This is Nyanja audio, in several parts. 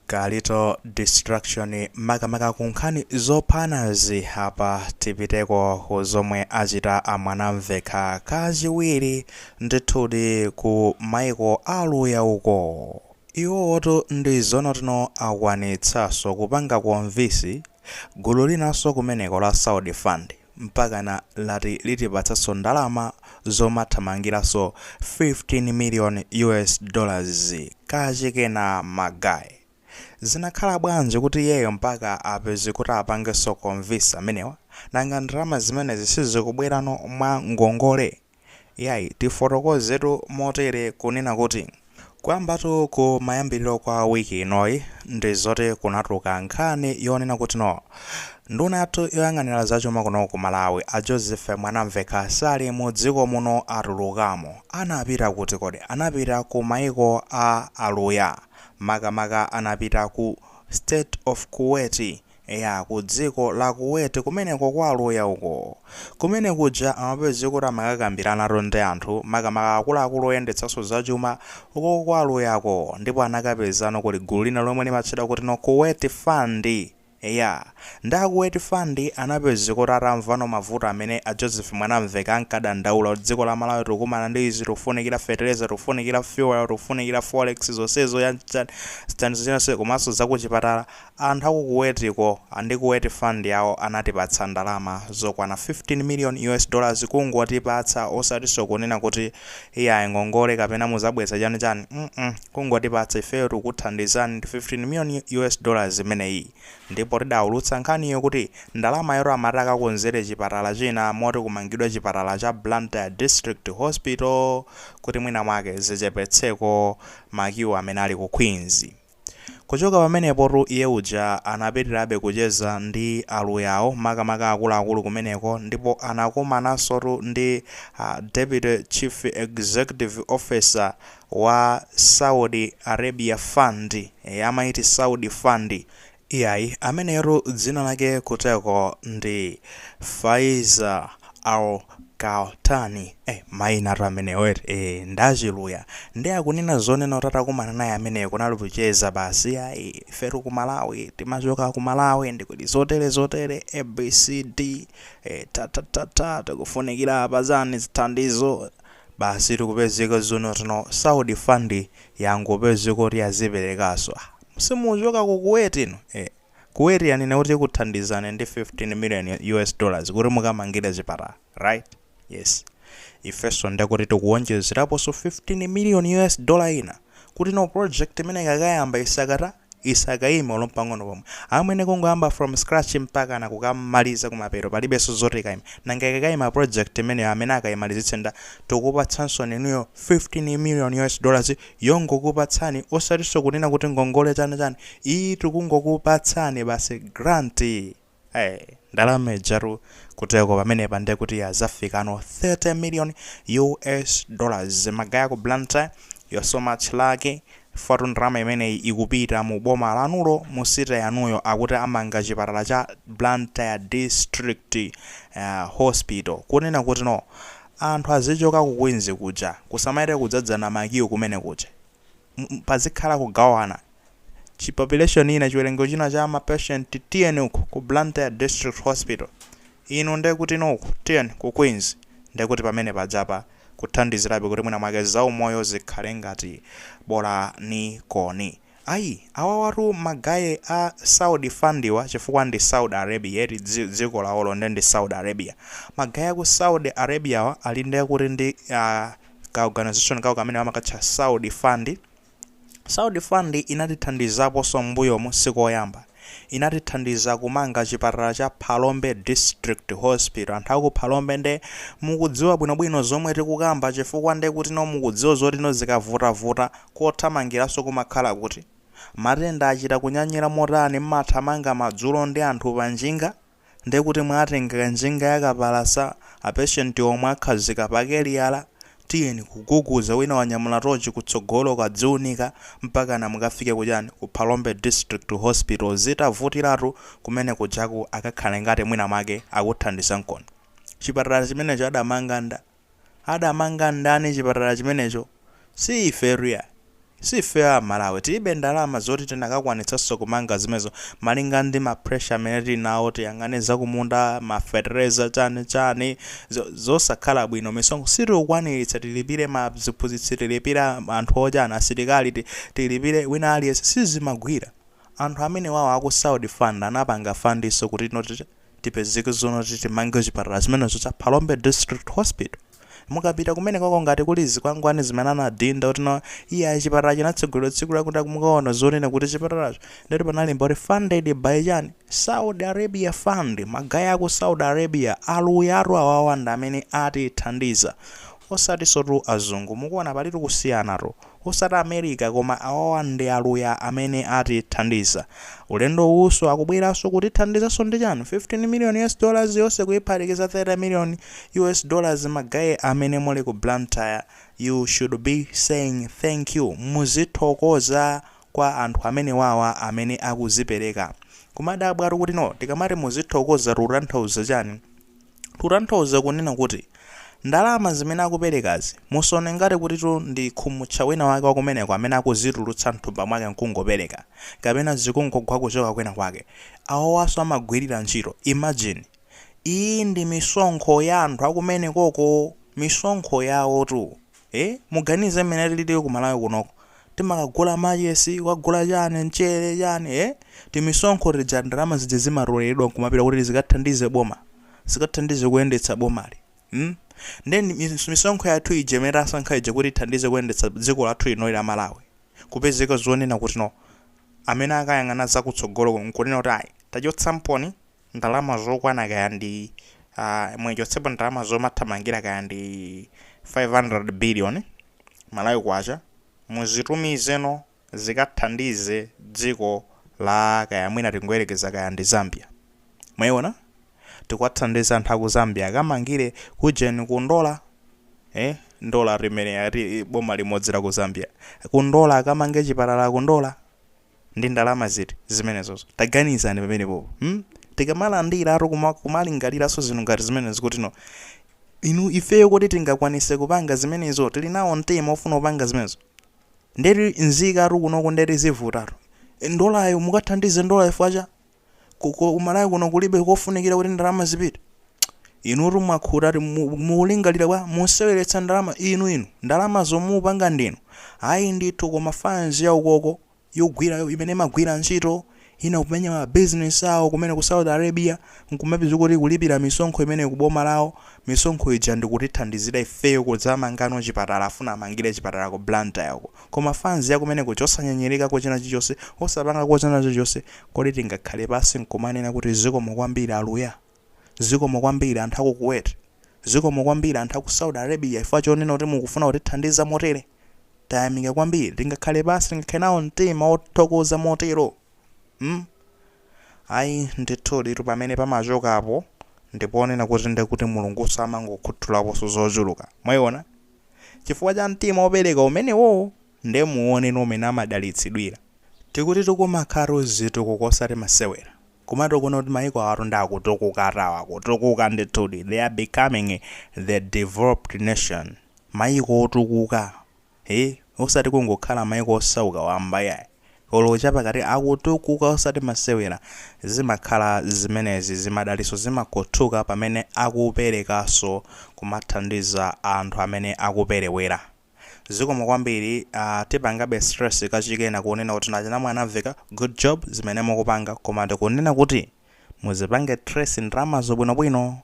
Kalito destruction makamaka ku nkhani zophanazi apa tipiteko ku zomwe achita a Mwanamvekha kachiwiri ndithudi ku maiko a Aluya uko iwowotu ndi zoona kutino akwanitsanso kupanga convince gulu linanso kumeneko la saudi fund mpakana lati litipatsanso ndalama zomathamangiranso 15 million US dollars kachikena ma guy zinakhala bwanji kuti iyeyo mpaka apeze kuti apangenso convince amenewa? nanga ndalama zimenezi sizikubwerano mwa ngongole? Iyayi, tifotokozetu motere kunena kuti kuyambatu ku mayambiriro kwa week inoyi ndi zoti kunatuluka nkhani yonena kutino nduna yathu yoyang'anira zachuma kuno ku Malawi a Joseph Mwanamvekha sali mu dziko muno atulukamo. Anapita kuti kodi? Anapita ku maiko a Aluya. Makamaka anapita ku State of Kuwait Eya, ku dziko la Kuwait kumeneko kwa aluya uko. Kumenekuja amapezeka kuti amakakambiranatu ndi anthu, makamaka akuluakulu oyendetsanso za chuma, uko kwa aluyako, ndipo anakapezano kuli gulu lina lomwe limatchedwa kutino Kuwait Fund. Eya, nde a Kuwait Fund anapezeka kuti atamvano mavuto amene a Joseph Mwanamvekha ankadandaula kuti dziko la Malawi tikukumana ndi izi, tikufunikira fertilizer, tikufunikira fuel, tikufunikira forex, zonsezo, yani, chani, chani zonse, komanso za kuchipatala, Anthu aku Kuwaitiko ndi Kuwait Fund yawo anatipatsa ndalama zokwana 15 million US dollars kungotipatsa osatinso kunena kuti iyayi ngongole kapena muzabweza chani chani mm kungotipatsa ifeyo tikukuthandizani ndi 15 million US dollars imeneyi ndipo tidaulutsa nkhaniyo kuti ndalamayotu amati akakonzere chipatala china moti kumangidwa chipatala cha Blantyre District Hospital kuti mwina mwake zichepetseko ma queue amene ali ku Queens. Kuchoka pamenepotu iye uja anapitirabe kucheza ndi aluyawo, makamaka akuluakulu kumeneko, ndipo anakumanansotu ndi a Deputy Chief Executive Officer wa Saudi Arabia Fund, ee, amayiti Saudi Fund, Iyayi, ameneyotu dzina lake kuteko ndi Faisal Al Kahtani, eh mayinatu amenewo eti, eh ndi achiluya, nde akunena zonena kuti atakumana naye ameneyo kunali kucheza basi, ayi ifetu ku Malawi timachoka ku Malawi nde kuli zotere zotere A B C D, eh ta ta ta ta tikufunikira apa chani zithandizo, basitu kupezeka zoona kutino Saudi fund yangopezeka kuti yaziperekanso, ah Simukuchoka ku Kuwait inu? Eh. Kuwait yanena kuti ikuthandizani ndi 15 million US dollars kuti mukamangire chipatala. Right? Yes. Ifenso ndekuti tikuonjezeraponso 15 million US dollars ina kuti no project imeneyi ikakayamba isakata, isakaime olo mpang'ono pomwe. Amwene kungoyamba from scratch mpakana kukamaliza kumapeto palibenso zoti ikaime. Nanga ikakaima project imeneyo amene akaimalizitse nda? Tikukupatsansoni inuyo 15 million US dollars yongokupatsani osatinso kunena kuti ngongole chani chani ii tikungokupatsani basi grant ee ndalama ijatu kuteko pamenepa ndiye kuti yazafikano 30 million us dollars magaya ku Blantyre you're so much lucky fatu ndalama imeneyi ikupita mu boma lanulo mu city yanuyo akuti amange chipatala cha Blantyre district uh, hospital kunena kuti no Anthu azichoka ku Queens kuja kusamayende kudzadzana ma queue kumene kuja. Pazikhala kugawana. Chi population ina chiwerengero china cha ma patient tiyeni uku ku Blantyre district hospital. Inu ndekutino uku tiyeni ku Queens. Ndekuti pamene pajapa kuthandizirabe kuti mwina mwake zaumoyo zikhale ngati bola ni koni. Ayi awawatu magaye a Saudi fundwa chifukwa ndi Saudi Arabia eti dziko lawolo nde ndi Saudi Arabia. Magaye aku Saudi Arabiawa ali nde kuti ndi ka organization kawo kamene amakatcha Saudi fund. Saudi fund inatithandizaponso m'mbuyomu si koyamba. inatithandiza kumanga chipatala cha Phalombe District Hospital. Anthu aku Phalombe nde mukudziwa bwinobwino zomwe tikukamba chifukwa ndekutino mukudziwa zotino zikavutavuta kothamangiranso kumakhala kuti matenda achita kunyanyira motani mmathamanga madzulo ndi anthu panjinga? ndekuti mwatenga njinga yakapalasa, apeshenti omwe akhazika pakeliyala, tiyeni kuguguza wina wanyamula tochi kutsogolo kadziwunika mpakana mukafike kujani ku Phalombe District Hospital zitavutiratu kumene kujaku akakhale ngati mwina mwake akuthandizaninkoni chipatala chimenecho adamanga nda? adamanga ndani chipatala chimenecho? si ifetu yayi. si ifeyo a Malawi tilibe ndalama zoti tinakakwanitsanso kumanga zimenezo malinga ndi ma pressure amene tili nawo tiyang'ane zakumunda mafetereza chani chani zosakhala bwino misonkho sitikukwaniritsa tilipire maziphunzitsi tilipire anthu ochani asilikali tilipire wina aliyense sizimagwira anthu amenewawo aku Saudi fund anapanga fundinso kuti no tipezeke zoona kuti timange chipatala chimenecho cha phalombe district hospital mukapita kumene koko ngati kuli zikwangwani zimene anadinda kuti no iya chipatala chinatsegulidwa tsiku lakuti mukaona zonena kuti chipatalacho ndithu panalemba kuti funded by chani saudi arabia fund magaye aku saudi arabia Aluyatu awawa ndi amene atithandiza osatinsotu azungu mukuona palitu kusiyanatu Osati America koma awawa ndi aluya amene atithandiza. Ulendo uwuso akubweranso kutithandizanso ndi chani? 15 million US dollars yose kuyiphatikiza 30 million US dollars magaye amene muli ku Blantyre you should be saying thank you muzithokoza kwa anthu amenewawa amene akuzipereka. Kumadabwatu kuti no tikamati muzithokoza tikutanthauza chani? Tikutanthauza kunena kuti ndalama zimene akuperekazi musaone ngati kutitu ndi khumutcha wina wake wakumeneko amene akuzitulutsa mthumba mwake nkungopereka, kapena zikungogwa kuchoka kwina kwake. Awowaso amagwirira ntchito. Imagine! Iyi ndi misonkho ya anthu akumenekoko! Misonkho yawotu! ee muganize mmene tilili ku malawi kunoko timakagula machesi kukagula chani mchere chani ee timisonkho tija ndalama zija zimatoleledwa nkumapita kuti zikathandize boma zikathandize kuyendetsa bomali mm nde ndi mis- misonkho yathu ija imene tasankha ija kuti ithandize kuyendetsa dziko lathu lino la malawi kupezeka zonena kuti no amene akayang'ana zakutsogolo nkunena kuti ayi tachotsamponi ndalama zokwana kaya ndi uh, muchotsepo ndalama zomathamangira kaya ndi 500 billion malawi kwacha muzitumizeno zikathandize dziko la kaya mwina tingoyerekeza kaya ndi zambia mwayiona tikuwathandiza anthu aku zambia akamangire kujeni kundola eh ndola limene ati boma limodzi la ku zambia kundola akamange chipatala kundola Ndi ndalama ziti zimenezozo? Taganizani pamenepopo. Hmm? Tikamalandiratu kuma- kumalingaliranso zinthu ngati zimenezo kuti no inu ifeyo kuti tingakwanise kupanga zimenezo tili nawo mtima ofuna kupanga zimenezo ndeti mzikatu kunoko ndeti zivutatu ndolayo mukathandize ndolayo facha Ku ku- ku Malawi kuno kulibe kofunikira kuti ndalama zipite. Inutu mwakhuta ati mu- mukulingalira bwa museweretsa ndalama inu inu ndalama zomwe mupanga ndinu. Ayi ndithu koma fans ya ukoko yogwira yo- imene imagwira ntchito ina kumenya ma business awo kumene ku Saudi Arabia nkumapeza kuti kulipira misonkho imene ku boma lawo misonkho ija nkutithandizira ifeyo kudzamangano chipatala afuna amangire chipatala ku Blantyre uko. Koma fanz yakumeneko osanyinyirikako china chilichonse osapangako china chilichonse kodi tingakhale pansi nkumanena kuti zikomo kwambiri aluya? Zikomo kwambiri anthu aku Kuwait? Zikomo kwambiri anthu aku Saudi Arabia chifukwa chonena kuti mukufuna kutithandiza motere? Tayamika kwambiri tingakhale pansi tingakhale nawo mtima wothokoza motero? mm ayi ndithuditu pamene pamachokapo ndi ponena kuti ndekuti Mulungunso amangokhuthulaponso zochuluka. Mwaiona? chifukwa cha mtima opereka umenewowo nde muone mmene amadalitsidwira. Tikutitu kumakhalatu zitukuko osati masewera. Kumatukuona kuti maiko awatu nde akutukukatu awa akutukuka ndithudi they are becoming the developed nation. Maiko otukuka ee osati kungokhala maiko osauka wamba yayi. olo chapakati akutukuka osati masewera zimakhala zimenezi zimadaliso zimakhuthuka pamene akupelekaso kumathandiza anthu amene akupelewera zikomo kwambiri aa tipangebe stress kachikena kunena kuti nachina Mwanamvekha good job zimene mukupanga koma tikunena kuti muzipange trace ndalamazo bwinobwino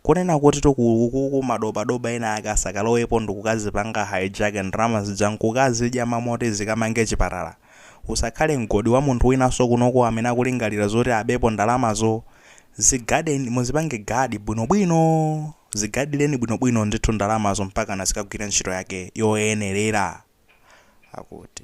Kunena kuti tu ku ku ku madobadoba ena ake asakalowepo ndikukazipanga hijack ndalama zija nkukazidya mmalo moti zikamange chipatala? Usakhale mgodi wa munthu winanso kunoko amene akulingalira zoti abepo ndalamazo. Zigadeni, muzipange guard bwinobwino. Zigadireni bwinobwino ndithu ndalamazo mpakana zikagwire ntchito yake yoyenerera. Akuti.